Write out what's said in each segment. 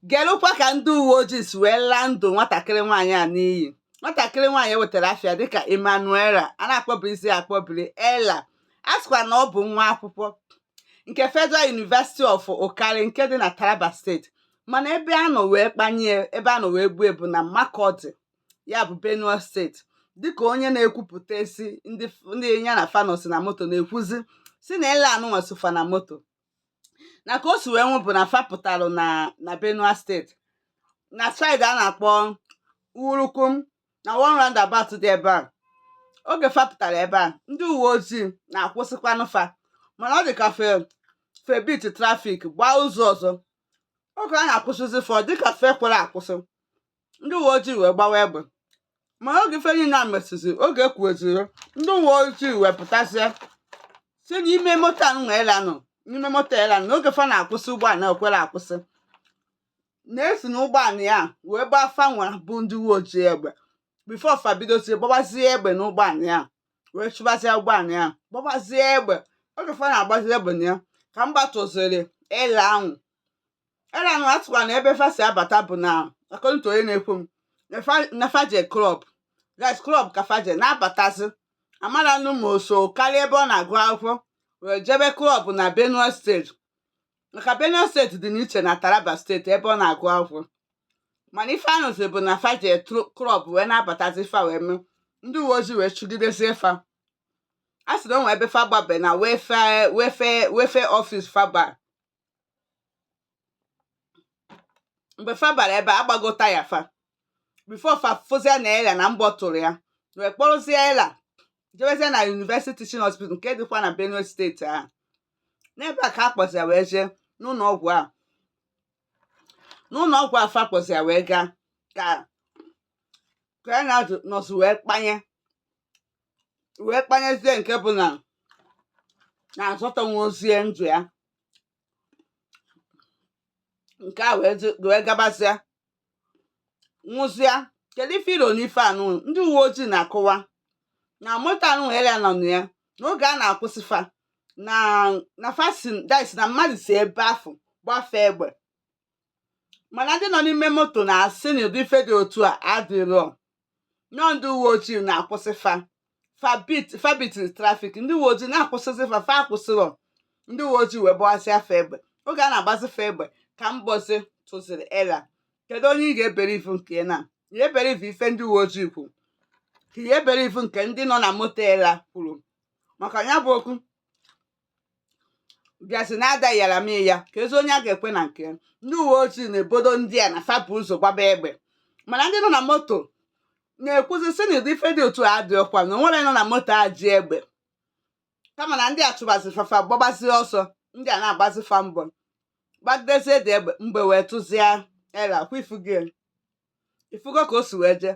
Gelụkwa ka ndị uwe ojii si wee laa ndụ nwatakịrị nwaanyị a n'iyi nwatakịrị nwaanyị e wetara afa ya dịka Emmanuela a na-akpọbirizi ya akpọbiri Ella a sịkwa na ọ bụ nwa akwụkwọ nke Federal University of Wukari nke dị na Taraba steeti mana ebe a nọ wee kpanye ebe a nọ wee gbuo ya bụ na Makurdi ya bụ Benue steeti dịka onye na-ekwupụta si ndị nya na fa nọsị na moto na-ekwuzi sị na Ella anụnwa so fa na moto na ka o si wee nwụ bụ na fa pụtalụ na na Benue steeti na saịdị a na-akpọ Wurukum na one roundabout dị ebe a oge fa pụtara ebe a ndị uwe ojii na-akwụsịkwanụ fa mana ọ dị ka fa fa beat traffic gbaa ụzọ ọzọ oge a na-akwụsịzi fa ọ dịka fa ekwerọ akwụsị ndị uwe ojii wee gbawa egbe ma oge ife niile a mesịzi oge ekwueziri ndị uwe ojii wee pụtasịa sị n'ime moto a nwa Ella nọ n'ime moto Ella nọ n'oge fa na-akwụsị ụgbọala ekwerọ akwụsị na e si na ụgbọala ya wee gbaa fa nwa bụ ndị uwe ojii egbe before fa bidozie gbawazie egbe n'ụgbọala ya wee chụbazie ụgbọala ya gbawazie egbe oge fa na-agbazi egbe na ya ka mgbọ tụziri Ella ahụ Ella na atụwa na ebe fa si abata bụ na account onye na-ekwu m na fa je club yes club ka fa je na-abatazi amarọ nụ ma o si Wukari ebe ọ na-agụ akwụkwọ wee jebe club na Benue steeti maka Benue steeti dị n'iche na Taraba steeti ebe ọ na-agụ akwụkwọ mana ife a nụzi bụ na fa je club wee na-abatazi fa wee mee ndị uwe ojii wee chụgidezie fa a sị na o nwe ebe fa gbaba na Welfare Welfare Welfare office fa ba mgbe fa bara ebe a gbago taya fa before fa fụzie na Ella na mgbọ tụrụ ya wee kpọrụzie Ella jebezie na University Teaching Hospital nke dịkwa na Benue steeti ahụ n'ebe a ka a kpọzi ya wee jee n'ụlọ ọgwụ a n'ụlọ ọgwụ a fa kpọzi ya wee gaa ka ka ya na-azụ- nọzi wee kpanye wee kpanyezie nke bụ na azọtanwurọzi ndụ ya nke a wee dị- wee gabazịa nwụzịa kedu ife i lo n'ife anụ ndị uwe ojii na-akọwa na moto anụ Ella nọ na ya n'oge a na-akwụsị fa na na fa si this na mmadụ si ebe afụ gbaa fa egbe mana ndị nọ n'ime moto na-asị na ụdị ife dị otu a adịrọ na ọ ndị uwe ojii na-akwụsị fa fa beat fa beat traffic ndị uwe ojii na-akwụsịzi fa fa akwụsịrọ ndị uwe ojii wee gbawasịa fa egbe oge a na-agbazi fa egbe ka mgbọzi tụziri Ella kedu onye ị ga-ebelieve nke na ị ya-ebelieve ife ndị uwe ojii kwuru ka ị ya-ebelieve nke ndị nọ na moto Ella kwuru maka ya bụ okwu bịazi na adaghịara m ya keezi onye a ga-ekwe na nke ndị uwe ojii na-ebodo ndị a na fa bu ụzọ gbaba egbe mana ndị nọ na moto na-ekwuzi sị na ụdị ife dị otu a adịrọkwa na onwere nọ na moto a ji egbe kama na ndị a chụbazi fa fa gbabazi ọsọ ndị a na-agbazi fa mgbọ gbagidezie dị egbe mgbọ wee tụzie ela kwa ị fụgo ị fụgo ka o si wee jee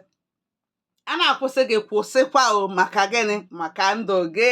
a na-akwụsị gị kwụsịkwa o maka gịnị maka ndụ gị